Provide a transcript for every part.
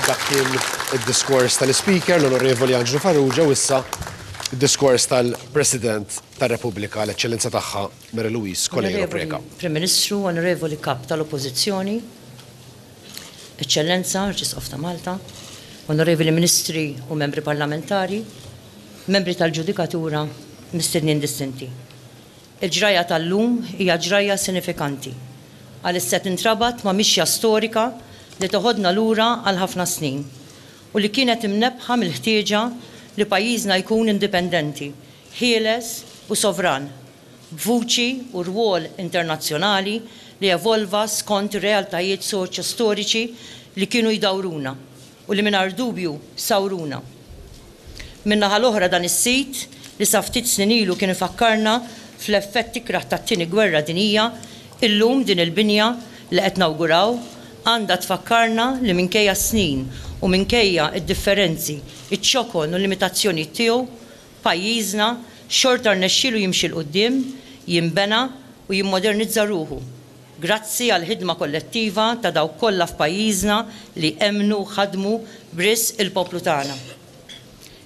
Dak kien id-diskors tal-Ispeaker, l-Onorevoli Anġlu Farrugia, u issa id-diskors tal-President tar-Repubblika, l-Eċċellenza tagħha Mary Louise Coleiro Preca. Prim Ministru, Onorevoli Kap tal-Oppożizzjoni, Eċċellenza, Arċisqof ta' Malta, Onorevoli Ministri u Membri Parlamentari, Membri tal-Ġudikatura, Mistednin Distinti. Il-ġrajja tal-lum hija ġrajja sinifikanti għaliex se tintrabat ma' mixja storika li teħodna lura għal ħafna snin u li kienet imnebbħa mill-ħtieġa li pajjiżna jkun indipendenti, ħieles u sovran, b'vuċi u rwol internazzjonali li evolva skont realtajiet soċjo-storiċi li kienu jdawruna. u li mingħajr dubju sawruna. Min-naħa l-oħra dan is-sit li sa ftit snin ilu kien ifakkarna fl-effett ikrah tat-Tieni Gwerra Dinjija, illum din il-binja li qed nawguraw għandha tfakkarna li minkejja s-snin u minkejja d-differenzi, iċ-ċokon u l-limitazzjonijiet tiegħu, pajjiżna xorta rnexxielu jimxi 'l quddiem, jinbena u jimmodernizza ruħu. Grazzi għall-ħidma kollettiva ta' dawk kollha f'pajjiżna li emmnu u ħadmu b'risq il-poplu tagħna.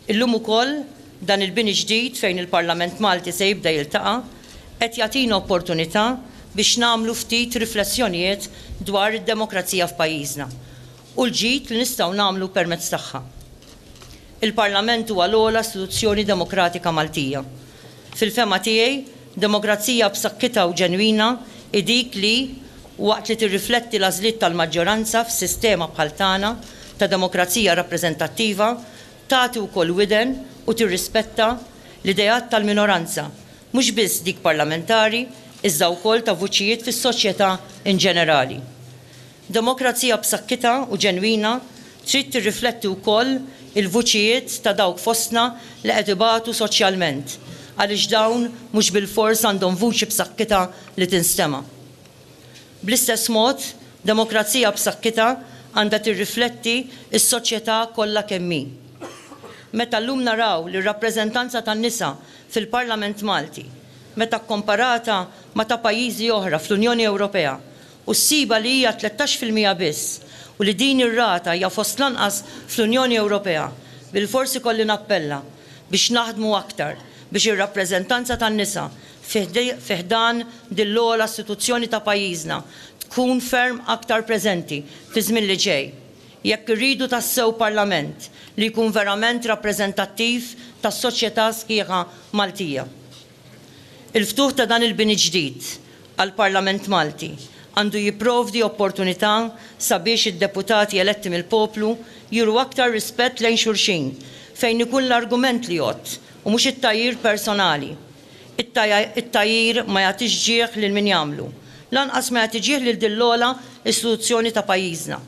Illum ukoll dan il-bini ġdid fejn il-Parlament Malti se jibda jiltaqa' qed jagħtina opportunità biex nagħmlu ftit riflessjonijiet dwar id-demokrazija f'pajjiżna u l-ġid li nistgħu nagħmlu permezz tagħha. Il-Parlament huwa l-ogħla istituzzjoni demokratika Maltija. Fil-fehma tiegħi, demokrazija b'saħħitha u ġenwina hi dik li, waqt li tirrifletti l-għażliet tal-maġġoranza f'sistema bħal tagħna ta' demokrazija rappreżentattiva, tagħti wkoll widen u tirrispetta l-ideat tal-minoranza, mhux biss dik parlamentari, iżda wkoll ta' vuċijiet fis-soċjetà inġenerali. Demokrazija b'sakkitha u ġenwina trid tirrifletti wkoll il-vuċijiet ta' dawk fostna li qed ibatu soċjalment, għaliex dawn mhux bilfors għandhom vuċi b'sakkitha li tinstema'. Bl-istess mod, demokrazija b'sakkitha għandha tirrifletti s-soċjetà kollha kemm hi. Meta llum naraw li r-rappreżentanza tan-nisa fil-Parlament Malti, meta kkomparata ma' ta' pajjiżi oħra fl-Unjoni Ewropea, u ssibha li hija tlettax fil-mija biss u li din ir-rata hija fost l-anqas fl-Unjoni Ewropea, bilfors ikolli nappella biex naħdmu aktar biex ir-rappreżentanza tan-nisa fi ħdan din l-ogħla istituzzjoni ta' pajjiżna tkun ferm aktar preżenti fiż-żmien li ġej jekk irridu tassew Parlament li jkun verament rappreżentattiv tas-soċjetà sħiħa Maltija. Il-ftuħ ta' dan il-bini ġdid għall-Parlament Malti għandu jipprovdi opportunità sabiex id-deputati eletti mill-poplu juru aktar rispett lejn xulxin fejn ikun l-argument li jgħodd u mhux it-tgħajjir personali. It-tgħajjir ma jagħtix ġieħ lil min jagħmlu, lanqas ma jagħti ġieħ lil din l-ogħla istituzzjoni ta' pajjiżna.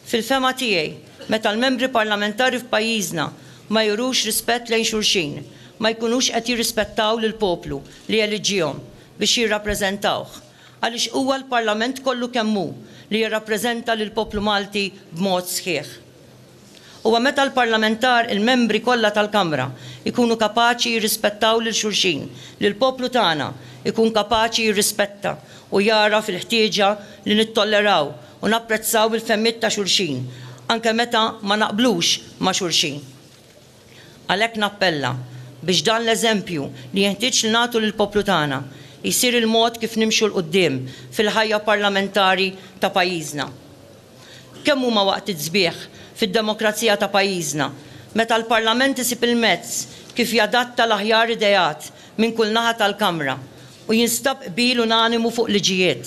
Fil-fehma tiegħi, meta l-Membri Parlamentari f'pajjiżna ma jurux rispett lejn xulxin, ma jkunux qed jirrispettaw lill-poplu li eliġġiehom biex jirrappreżentawh, għaliex huwa l-Parlament kollu kemm hu li jirrappreżenta lill-poplu Malti b'mod sħiħ. Huwa meta l-Parlamentar, il-Membri kollha tal-Kamra, jkunu kapaċi jirrispettaw lil xulxin li l-poplu tagħna jkun kapaċi jirrispetta u jagħraf il-ħtieġa li nittolleraw u napprezzaw il-fehmiet ta' xulxin, anke meta ma naqblux ma' xulxin. Għalhekk nappella biex dan l-eżempju li jenħtieġ li nagħtu lill-poplu tagħna jsir il-mod kif nimxu 'l quddiem fil-ħajja parlamentari ta' pajjiżna. Kemm huma waqtiet sbieħ fid-demokrazija ta' pajjiżna meta l-Parlament isib il-mezz kif jadatta l-aħjar ideat minn kull naħa tal-Kamra u jinstab qbil unanimu fuq liġijiet.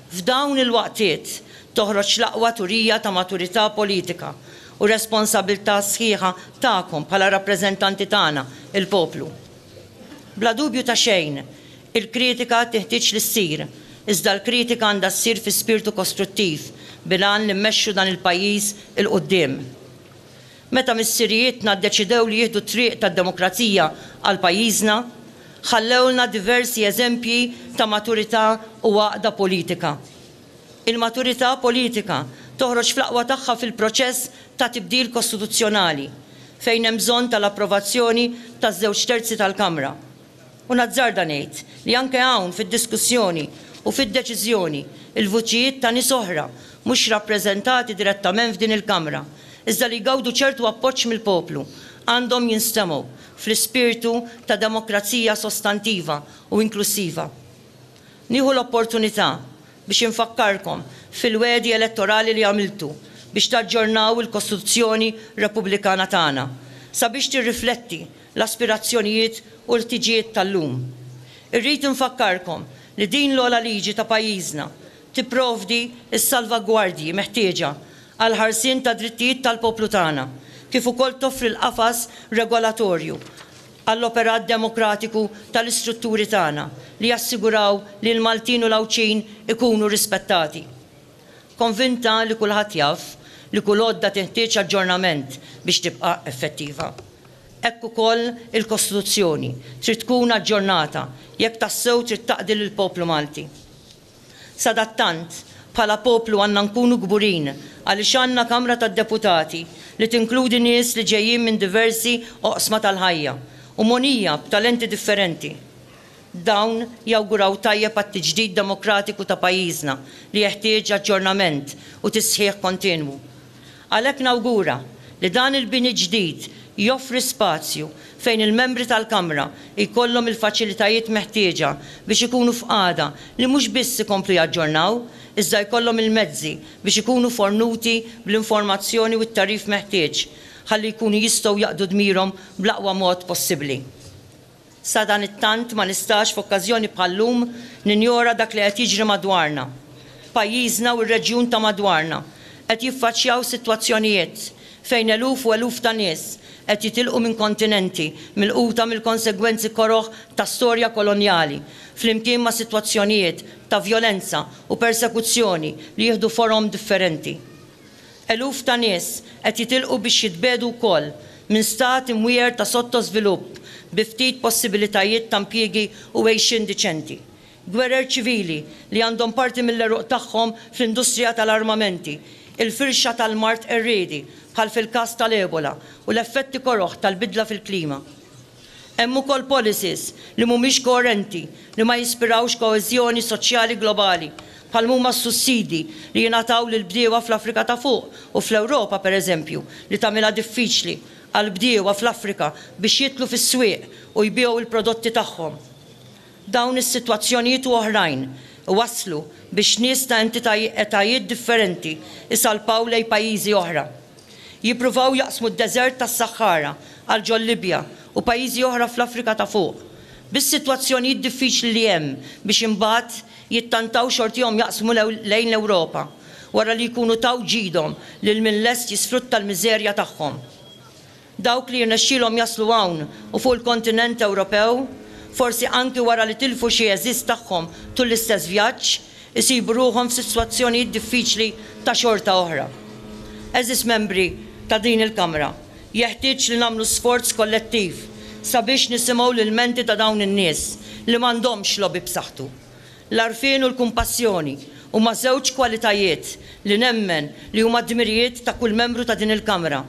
F'dawn il-waqtiet toħroġ l-aqwa turija ta' maturità politika u responsabilità sħiħa tagħkom bħala rappreżentanti tagħna, il-poplu. Bla dubju ta' xejn, il-kritika tinħtieġ li ssir, iżda l-kritika għandha ssir fi spirtu kostruttiv bil-għan li mmexxu dan il-pajjiż 'il quddiem. Meta missirijietna ddeċidew li jieħdu t-triq tad-demokrazija għal pajjiżna, ħallewlna diversi eżempji ta' maturità u għaqda politika. Il-maturità politika toħroġ fl-aqwa tagħha fil-proċess ta' tibdil kostituzzjonali, fejn hemm bżonn tal-approvazzjoni taż-żewġ terzi tal-Kamra. U nazzarda ngħid li anke hawn fid-diskussjoni u fid-deċiżjoni l-vuċijiet ta' nies oħra mhux rappreżentati direttament f'din il-Kamra, iżda li jgawdu ċertu appoġġ mill-poplu, għandhom jinstemgħu fl-ispirtu ta' demokrazija sostantiva u inklussiva. Nieħu l-opportunità biex infakkarkom fil-wegħdi elettorali li għamiltu biex taġġornaw il-Kostituzzjoni Repubblikana tagħna sabiex tirrifletti l-aspirazzjonijiet u l-ħtiġijiet tal-lum. Irrid infakkarkom li din l-ogħla liġi ta' pajjiżna tipprovdi s-salvagwardji meħtieġa għall-ħarsien tad-drittijiet tal-poplu tagħna kif ukoll toffri l-qafas regolatorju għall-operat demokratiku tal-istrutturi tagħna li jassiguraw li l-Maltin u l-Għawdxin ikunu rispettati. Konvinta li kulħadd jaf li kull għodda tinħtieġ aġġornament biex tibqa' effettiva. Hekk ukoll il-Kostituzzjoni trid tkun aġġornata jekk tassew trid taqdi lill-poplu Malti. Sadattant, bħala poplu għandna nkunu kburin għaliex għandna Kamra tad-Deputati li tinkludi nies li ġejjin minn diversi oqsma tal-ħajja u mogħnija b'talenti differenti. Dawn jawguraw tajjeb għat-tiġdid demokratiku ta' pajjiżna li jeħtieġ aġġornament u tisħiħ kontinwu. Għalhekk nawgura li dan il-bini ġdid joffri spazju fejn il-Membri tal-Kamra jkollhom il-faċilitajiet meħtieġa biex ikunu f'qagħda li mhux biss ikomplu jaġġornaw, iżda jkollhom il-mezzi biex ikunu fornuti bl-informazzjoni u t-tagħrif meħtieġ ħalli jkunu jistgħu jaqdu dmirhom bl-aqwa mod possibbli. Sadanittant ma nistax f'okkażjoni bħal-lum ninjora dak li qed jiġri madwarna. Pajjiżna u r-reġjun ta' madwarna qed jiffaċċjaw sitwazzjonijiet fejn eluf u eluf ta' nies qed jitilqu minn kontinenti milquta mill-konsegwenzi koroh ta' storja kolonjali flimkien ma' sitwazzjonijiet ta' vjolenza u persekuzzjoni li jieħdu forom differenti. Eluf ta' nies qed jitilqu biex jitbiegħdu wkoll minn stat imwiegħer ta' sottożvilupp bi ftit possibilitajiet ta' impjiegi u għejxien diċenti. Gwerer ċivili li għandhom parti mill-għeruq tagħhom fl-industrija tal-armamenti, il-firxa tal-mard qerriedi bħal fil-każ tal-Ebola u l-effetti koroh tal-bidla fil-klima. Hemm ukoll policies li mhumiex koerenti li ma jispirawx koeżjoni soċjali globali, bħal m'huma s-sussidji li jingħataw lill-bdiewa fl-Afrika ta' Fuq u fl-Ewropa, pereżempju, li tagħmilha diffiċli għall-bdiewa fl-Afrika biex jidħlu fis-swieq u jbiegħu l-prodotti tagħhom. Dawn is-sitwazzjonijiet u oħrajn iwasslu biex nies ta' entitaj etajiet differenti jsalpaw lejn pajjiżi oħra. Jippruvaw jaqsmu d-deżert tas-Saħħara għal ġol Libja u pajjiżi oħra fl-Afrika ta' Fuq. Bis-sitwazzjonijiet diffiċli li hemm biex imbagħad jittantaw xortihom jaqsmu lejn l-Ewropa wara li jkunu taw ġidhom lil min lest jisfrutta l-miżerja tagħhom. Dawk li jirnexxilhom jaslu hawn u fuq il-kontinent Ewropew, forsi anki wara li tilfu xi għeżież tagħhom tul l-istess vjaġġ, isibu ruħhom f'sitwazzjonijiet diffiċli ta' xorta oħra. Għeżież membri ta' din il-Kamra, jeħtieġ li nagħmlu sforz kollettiv sabiex nisimgħu l-ilmenti ta' dawn in-nies li m'għandhomx lobby b'saħħtu. L-għarfien u l-kumpassjoni huma żewġ kwalitajiet li nemmen li huma dmirijiet ta' kull membru ta' din il-Kamra,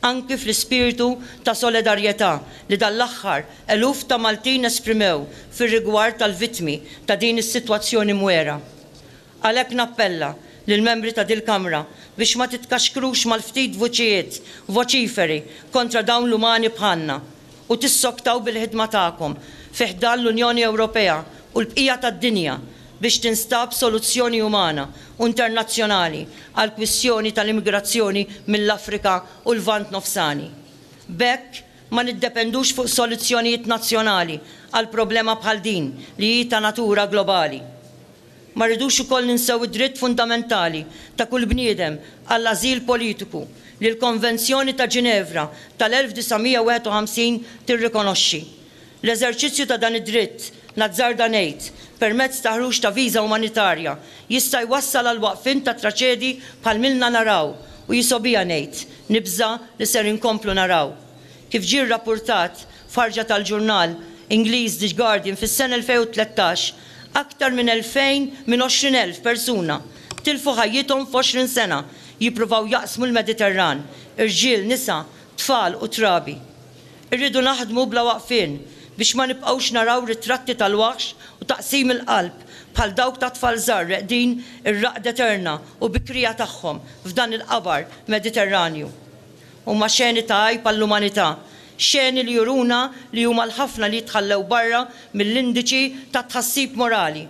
anki fl-ispirtu ta' solidarjetà li dan l-aħħar Eluf ta' Maltin esprimew fir-rigward tal-vittmi ta' din is-sitwazzjoni mwera. Għalhekk nappella lill-membri ta' dil-Kamra biex ma titkaxkrux mal-ftit vuċijiet voċiferi kontra dawn l-umani bħalna u tissoktaw bil-ħidma tagħkom fi ħdan l-Unjoni Ewropea u l-bqija tad-dinja biex tinstab soluzzjoni umana u internazzjonali għall-kwistjoni tal-immigrazzjoni mill-Afrika u l-Lvant Nofsani. B'hekk, Ma niddependux fuq soluzzjonijiet nazzjonali għal problema bħal din li hi ta' natura globali. Ma rridux ukoll ninsew id-dritt fundamentali ta' kull bniedem għall-ażil politiku li l-Konvenzjoni ta' Ġinevra tal-1951 tirrikonoxxi. L-eżerċizzju ta' dan id-dritt, nazzarda ngħid, permezz ta' ħruġ ta' viża umanitarja, jista' jwassal għall-waqfien ta' traċedji bħal m'ilna naraw u jisgħu bija ngħid, nibża' li ser inkomplu naraw. Kif ġie rrappurtat f'ħarġa tal-ġurnal Ingliż The Guardian fis-sena 2013, aktar minn 2,000 minn 20,000 persuna tilfu ħajjithom f'għoxrin sena jippruvaw jaqsmu l-Mediterran, irġiel, nisa, tfal u trabi. Irridu naħdmu bla waqfien biex ma nibqgħux naraw ritratti tal-waħx u taqsim il-qalb bħal dawk ta' tfal żgħar reqdin ir-raqda eterna u bikrija tagħhom f'dan il-qabar Mediterranju. Huma xeni ta' għajb għall-umanità, xeni li juruna li huma l-ħafna li jitħallew barra mill-indiċi tat-tħassib morali.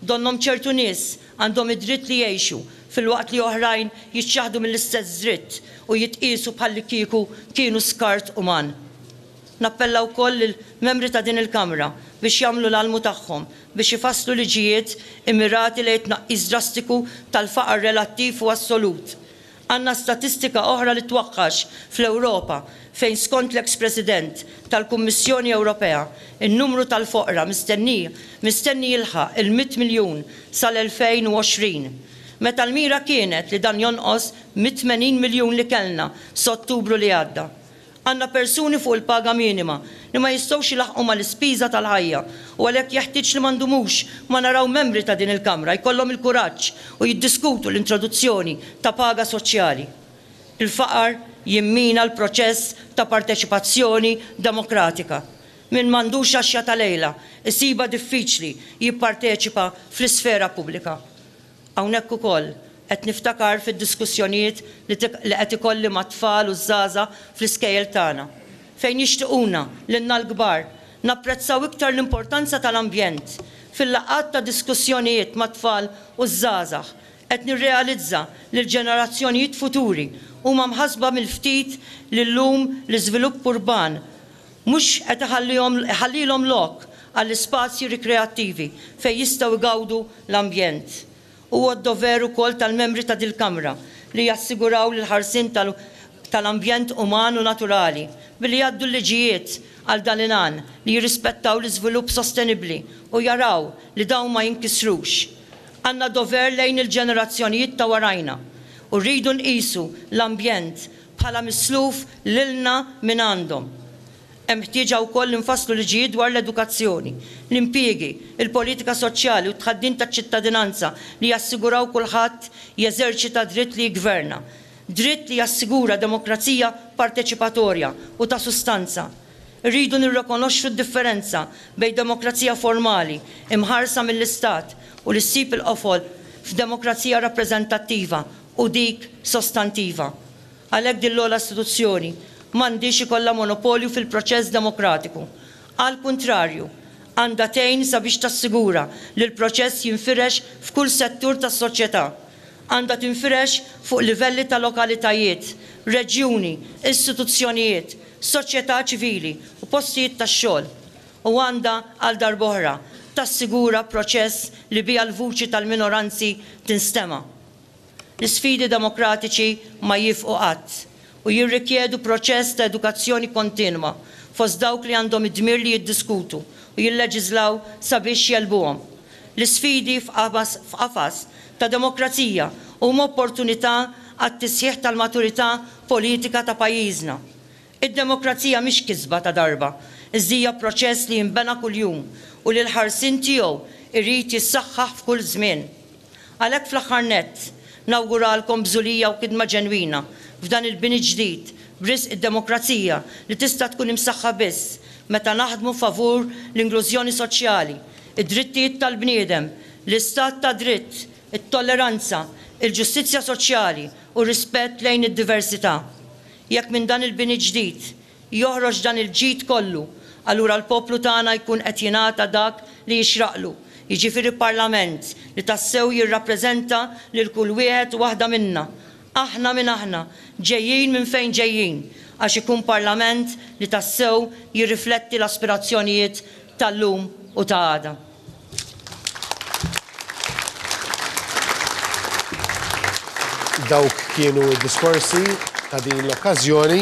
Donnhom ċertu nies għandhom id-dritt li jgħixu filwaqt li oħrajn jiċċaħħdu mill-istess dritt u jitqiesu bħallikieku kienu skart uman. Nappella wkoll lill-Membri ta' din il-Kamra biex jagħmlu l-almu tagħhom biex ifasslu liġijiet immirati lejn it-tnaqqis drastiku tal-faqar relattiv u assolut, Għandna statistika oħra li twaqax fl-Ewropa fejn skont l-eks President tal-Kummissjoni Ewropea n-numru tal-foqra mistenni mistenni jilħaq il-mitt miljun sal-2020 meta l-mira kienet li dan jonqos mit-tmenin miljun li kellna s'Ottubru li għadda. Għandna persuni fuq il-paga minima li ma jistgħux ilaħħqu mal-ispiża tal-ħajja u għalhekk jeħtieġ li ma ndumux ma naraw membri ta' din il-Kamra jkollhom il-kuraġġ u jiddiskutu l-introduzzjoni ta' paga soċjali. Il-faqar jimmina l-proċess ta' parteċipazzjoni demokratika. Min m'għandux għaxja ta' lejla isibha diffiċli jipparteċipa fl-isfera pubblika. Hawnhekk ukoll qed niftakar fid-diskussjonijiet li li qed ikolli mat-tfal u ż-żgħażagħ fl-iskejjel tagħna, fejn jixtiquna, lilna l-kbar, napprezzaw iktar l-importanza tal-ambjent. Fil-laqgħat ta' diskussjonijiet mat-tfal u ż-żgħażagħ, qed nirrealizza li l-ġenerazzjonijiet futuri huma mħassba mill-ftit li llum l-iżvilupp urban, Mhux qed iħallihom iħallilhom lok għall-ispazji rikreattivi fejn jistgħu jgawdu l-ambjent. Huwa d-dover ukoll tal-membri ta' dil-Kamra li jassiguraw l-ħarsien tal tal-ambjent uman u naturali billi jgħaddu l-liġijiet għal dan il-għan li jirrispettaw l-iżvilupp sostenibbli u jaraw li dawn ma jinkisrux. Għandna dover lejn il-ġenerazzjonijiet ta' warajna u rridu nqisu l-ambjent bħala misluf lilna mingħandhom. Hemm ħtieġa wkoll li nfasslu liġijiet dwar l-edukazzjoni, l-impjiegi, il-politika soċjali u t-tħaddim taċ-ċittadinanza li jassiguraw kulħadd jeżerċita dritt li jiggverna, dritt li jassigura demokrazija parteċipatorja u ta' sustanza. Irridu nirrikonoxxu d-differenza bejn demokrazija formali, imħarsa mill-istat, u li ssib il-qofol f'demokrazija rappreżentattiva, u dik sostantiva. Għalhekk din l-ogħla istituzzjoni m'għandhiex ikollha monopolju fil-proċess demokratiku. Għall-kuntrarju, għandha tgħin sabiex tassigura li l-proċess jinfirex f'kull settur tas-soċjetà. Għandha tinfirex fuq livelli ta' lokalitajiet, reġjuni, istituzzjonijiet, soċjetà ċivili u postijiet tax-xogħol. U għandha, għal darb'oħra, tassigura proċess li biha l-vuċi tal-minoranzi tinstema'. L-isfidi demokratiċi ma jifqu qatt u jirrikjedu proċess ta' edukazzjoni kontinwa fost dawk li għandhom id-dmir li jiddiskutu u jilleġiżlaw sabiex jegħlbuhom. L-isfidi f'qafas ta' demokrazija huma opportunità għat-tisħiħ tal-maturità politika ta' pajjiżna. Id-demokrazija mhix kisba ta' darba, iżd hija proċess li jinbena kuljum u li l-ħarsien tiegħu jrid jissaħħaħ f'kull żmien. Għalhekk fl-aħħar nett, nawguralkom bżulija u kidma ġenwina f'dan il-bini ġdid b'risq id-demokrazija li tista' tkun imsaħħa biss meta naħdmu favur l-inglużjoni soċjali, id-drittijiet tal-bniedem, l-istat ta' dritt, it-tolleranza, il-ġustizzja soċjali u r-rispett lejn id-diversità. Jekk minn dan il-bini ġdid joħroġ dan il-ġid kollu, allura l-poplu tagħna jkun qed jingħata dak li jixraqlu, jiġifieri Parlament li tassew jirrappreżenta lil kull wieħed u waħda minna, aħna min aħna, ġejjin minn fejn ġejjin, għax ikun Parlament li tassew jirrifletti l-aspirazzjonijiet tal-lum u ta' għada. Dawk kienu d-diskorsi ta' din l-okkażjoni.